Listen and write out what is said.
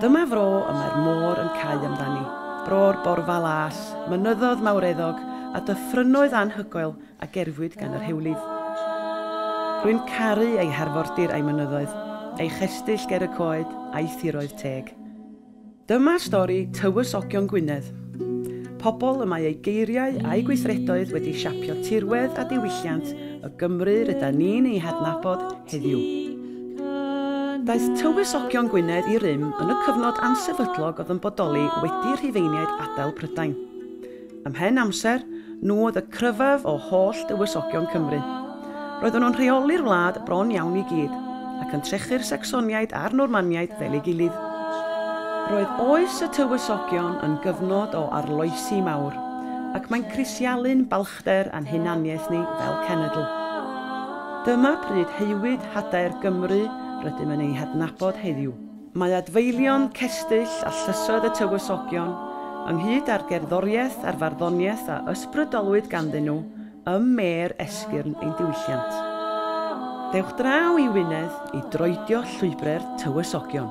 Dyma fro y mae'r môr yn cau amdani, bro'r borfa las, mynyddodd mawreddog, a dyffrynnoedd anhygoel a gerfwyd gan yr hewlydd. Rwy'n caru ei harfordir a'i mynyddoedd, ei chestyll ger y coed, a'i thiroedd teg. Dyma stori Tywysogion Gwynedd, pobl y mae eu geiriau a'u gweithredoedd wedi siapio tirwedd a diwylliant y Gymru rydan ni'n ei hadnabod heddiw. Daeth Tywysogion Gwynedd i rym yn y cyfnod ansefydlog oedd yn bodoli wedi Rhufeiniaid adael Prydain. Ymhen amser, nhw oedd y cryfaf o holl dywysogion Cymru. Roedden nhw'n rheoli'r wlad bron iawn i gyd, ac yn trechu'r Sacsoniaid a'r Normaniaid fel ei gilydd. Roedd oes y Tywysogion yn gyfnod o arloesi mawr, ac mae'n crisialu'n carachder a'n hunaniaeth ni fel cenedl. Dyma pryd haewyd hadaer Gymru rydym yn ei hadnabod heddiw. Mae adfeilion, cestyll a llysoedd y Tywysogion, ynghyd â'r gerddoriaeth a'r farddoniaeth a ysbrydolwyd ganddyn nhw ym mêr esgyrn ein diwylliant. Dewch draw i Wynedd i droedio llwybre'r Tywysogion.